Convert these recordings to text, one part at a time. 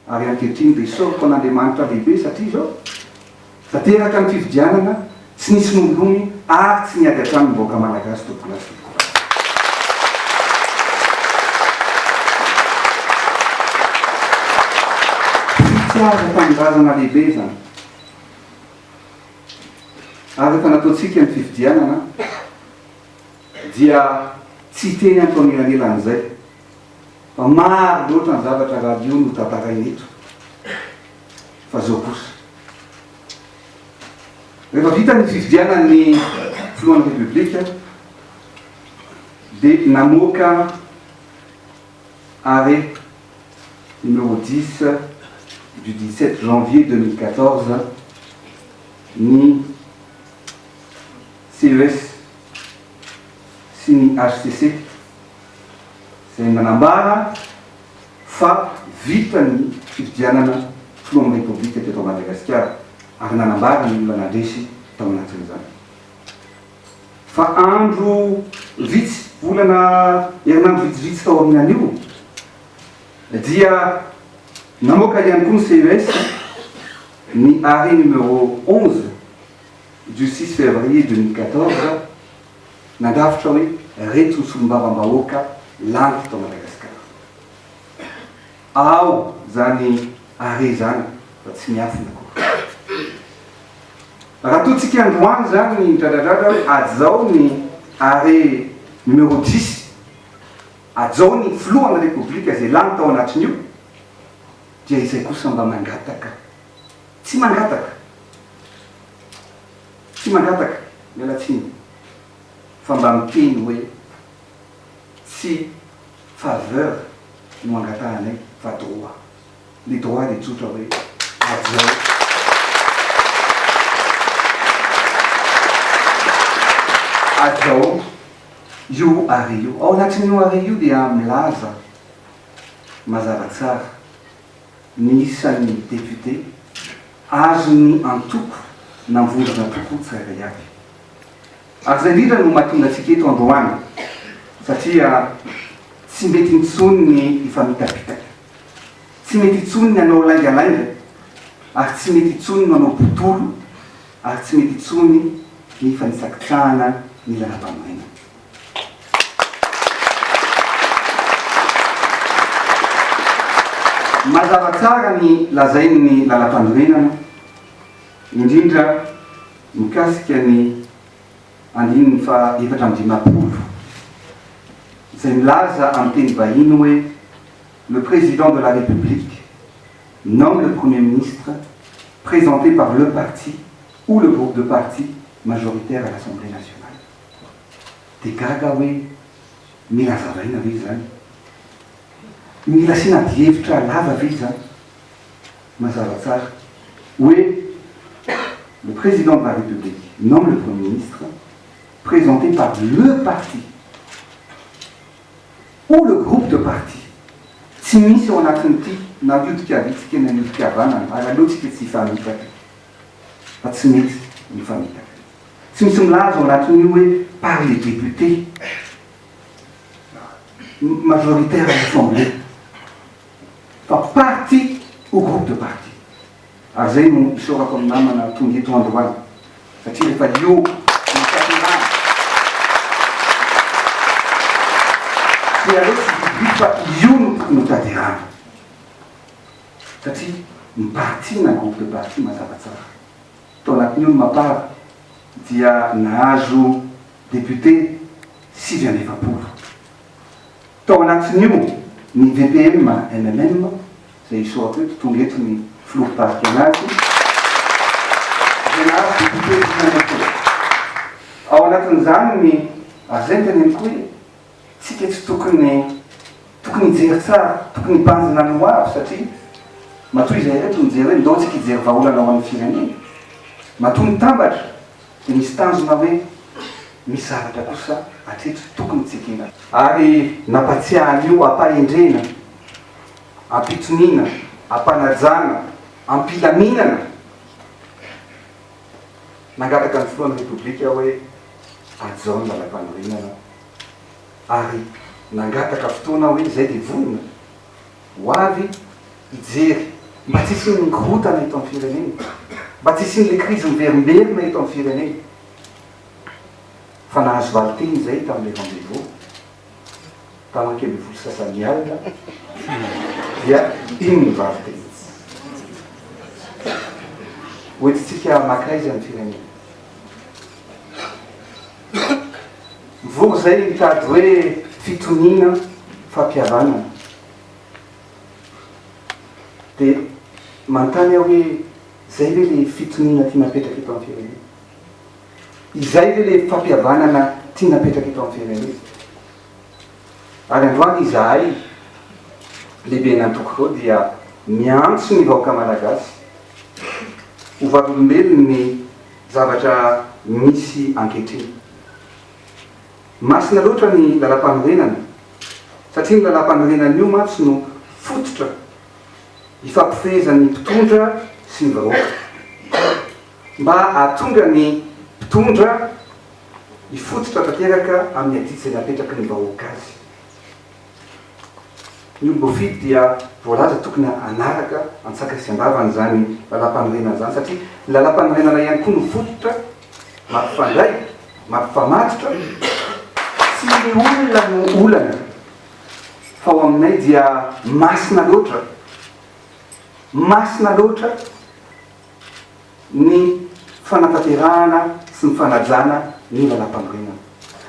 Ary ankehitriny dia isaoriko an'Andriamanitra lehibe satria izao, efa teraka ny fifidianana, tsy nisy nolony ary tsy niady hatrany ny vahoaka Malagasy tompoko lahy sy tompoko vavy. Tsiaza tanindrazana lehibe izany. Ary efa nataontsika ny fifidianana. Dia tsy hiteny ato anelanelan'izay fa maro loatra ny zavatra radio no tantaraina eto fa zao kosa rehefa vita ny fifidianan'ny filohan'ny repoblika dia namoaka arret numéro dix du dix sept janvier deux mille quatorze ny CES sy ny hcc, izay nanambara fa vita ny fifidianana filohan'ny Repoblika teto Madagasikara ary nanambara ny olona nandresy tao anatin'izany fa andro vitsy, volana, herinandro vitsivitsy tao aorianan'io dia namoaka ihany koa ny CES ny arrêt numéro onze. Justice Février deux mille quatorze, nandrafitra hoe reto ny solombavambahoaka lany teto Madagasikara. Ao izany Hare izany fa tsy miafina akory. Raha toa tsika androany izany ny midradradradra hoe ady izao ny Hare numéro dix, ady izao ny filohan'ny Repoblika izay lany tao anatin'io, dia izay kosa mba mangataka. Tsy mangataka, tsy mangataka, miala tsiny, fa mba miteny hoe tsy faveur no angatahanay fa droit. Ny droit dia tsotra hoe aviao. Aviao io arrêt io. Ao anatin'io arrêt io dia milaza mazava tsara. ny isan'ny député azon'ny antoko na vondrona toko tsirairay avy. Ary izay indrindra no mahatonga antsika eto androany satria tsy mety intsony ny hifamitapitaka, tsy mety intsony ny hanao laingalainga ary tsy mety intsony ny manao botolo ary tsy mety intsony ny hifanitsakitsahana ny lalam-panorenana. Mazava tsara ny lazain'ny Lalampanorenana, indrindra mikasika ny andininy faha efatra amby dimampolo, izay milaza amin'ny teny vahiny hoe Le Président de la République nomme le Premier Ministre présenté par le parti ou le groupe de partis majoritaires à l'Assemblée nationale. Dia gaga aho hoe mila zaraina ve izany? Mila asiana adihevitra lava ve izany? Mazava tsara hoe le Président de la République nomme le Premier Ministre présenté par le parti ou le groupe de parti. Tsy misy ao anatin'ity na io dikavitsika na io dikavanana ary aleontsika tsy hifanipaka. fa tsy mety ny famitaka. Tsy misy milaza ao anatin'io hoe par les députés majoritaires à l'Assemblée fa parti ou groupe de parti. Ary zay no isaorako an'i namana tonga eto androany satria rehefa io no fitondrana dia aleo tsy didiako fa io no tokony ho tadirana. Satria ny partie na groupe de partie mazava tsara. Tao anatin'io ny Mapar dia nahazo député sivy amby efapolo. Tao anatin'io ny DPM MMM izay isaorako eto, tonga eto ny filoha mpitarika anazy, dia nahazo député dimy amby folo. Ao anatin'izany ny Azenta ny Amikoy Tsika tsy tokony tokony hijery tsara, tokony hibanjina ny hoavy satria matoa izay ireto mijery hoe ndao tsika hijery vahaolana ho an'ny firenena, matoa mitambatra dia misy tanjona hoe misy zavatra kosa hatreto tokony tsikina. Ary nampatsiahy an'io ampahendrena, ampitoniana, ampanajana, ampilaminana Nangataka ny filohan'ny Repoblika hoe hajao ny lalampanorenana ary nangataka fotoana hoe izay dia vonona ho avy hijery mba tsy hisian'ny mikorontana eto amin'ny firenena, mba tsy hisian'ilay krizy miverimberina eto amin'ny firenena. Fa nahazo valin-teny izay tamin'ilay rendez-vous Tamin-ke ambin'ny folo sy sasany alina dia iny ny vavy teny. Hoentintsika maka aiza ny firenena? Mivory izay ny mitady hoe fitoniana, fampihavanana. Dia manontany aho hoe izay ve ilay fitoniana tiana apetraka eto amin'ny firenena? Izay ve le fampihavanana tiana apetraka eto amin'ny firenena ity? Ary androany izahay lehiben'antoko dia miantso ny vahoaka malagasy ho vavolombelon'ny zavatra misy ankehitriny. Masina loatra ny lalampanorenana satria ny lalampanorenana io mantsy no fototra ifampifehezan'ny mpitondra sy ny vahoaka. mba hahatonga ny mpitondra hifototra tanteraka amin'ny adidy izay napetraky ny vahoaka azy. Ny olom-boafidy dia voalaza tokony hanaraka an-tsakany sy an-davany izany Lalàmpanorenana izany, satria ny Lalàmpanorenana ihany koa no fototra mampifandray, mampifamatotra. Tsy ny olona no olana, fa ao aminay dia masina loatra, masina loatra, ny fanatanterahana sy ny fanajana ny Lalàmpanorenana.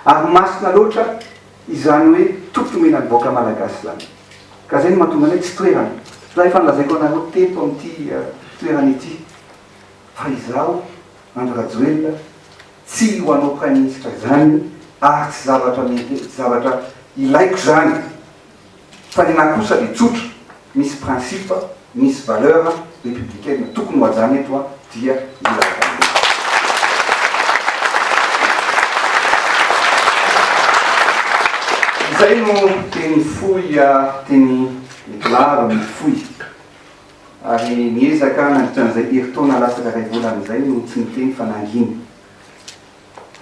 Ary masina loatra izany hoe toky omena ny vahoaka Malagasy izany. Ka izay no mahatonga anay tsy toerana. Raha efa nolazaiko anareo teto amin'ity toerana ity fa izaho, Andry Rajoelina, tsy ho hanao Praiminisitra izany ary tsy zavatra mety, tsy zavatra ilaiko izany. Fa ny nahy kosa dia tsotra, misy principe, misy valeur républicaine tokony ho hajanona eto an, dia ny lalam-pahamehana. Izay no teny fohy teny Nicolard amin'ny fohy. Ary niezaka nandritra an'izay herintaona latsaka iray volana izay no tsy niteny fa nangina.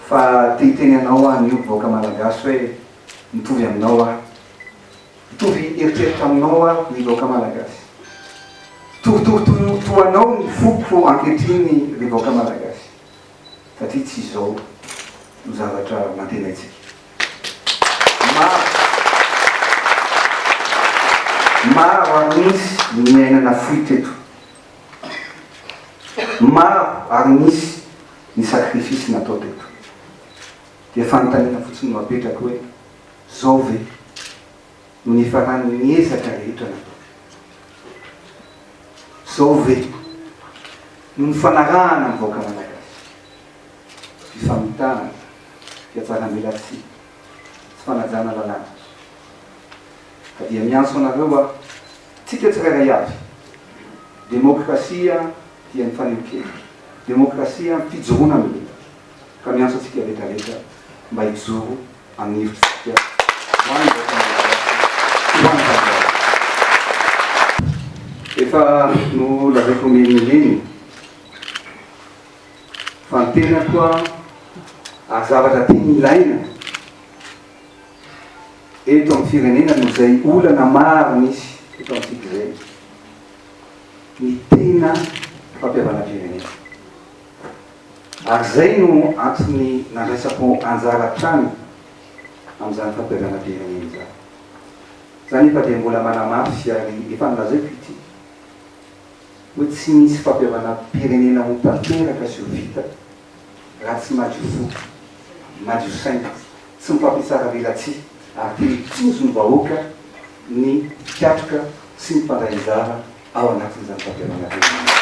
Fa te hiteny anao aho anio vahoaka malagasy hoe mitovy aminao aho Mitovy eritreritra aminao aho ry vahoaka malagasy Mitovitovy toa anao ny foko ankehitriny ry vahoaka malagasy Satria tsy izao no zavatra nantenaintsika Maro Maro ary nisy ny niaina nafoy teto Maro ary nisy Ny sacrifice natao teto dia fanontaniana fotsiny no apetrako hoe zao ve no nifaran'ny ezaka rehetra natao? Zao ve no nifanarahana amin'ny vahoaka Malagasy? Fifamitahana, fiatsaram-belatsihy, tsy fanajana lalàna. Ka dia miantso anareo aho Tsika tsirairay avy, demokrasia dia ny fanehoan-kevitra, demokrasia ny fijoroana amin'ny hevitra, ka miantso antsika rehetra rehetra mba hijoro amin'ny hevitr'isika ho an'ny vahoaka malagasy, ho an'ny tanindrazana. Efa nolazaiko miheniheny fa ny tenako ary zavatra tena ilaina, Eto amin'ny firenena no izay olana maro misy eto amintsika izay ny tena fampihavanam-pirenena. Ary izay no antony nandraisako anjara hatrany amin'izany fampihavanam-pirenena izany. Za anefa dia mbola manamafy ary efa nolazaiko ity hoe tsy misy fampihavanam-pirenena ho tanteraka sy ho vita raha tsy madio fo, madio saina, tsy mifampitsara velatsihy ary te hitozo ny vahoaka ny mpikatroka sy ny mpandray anjara ao anatin'izany fampihavanana izany.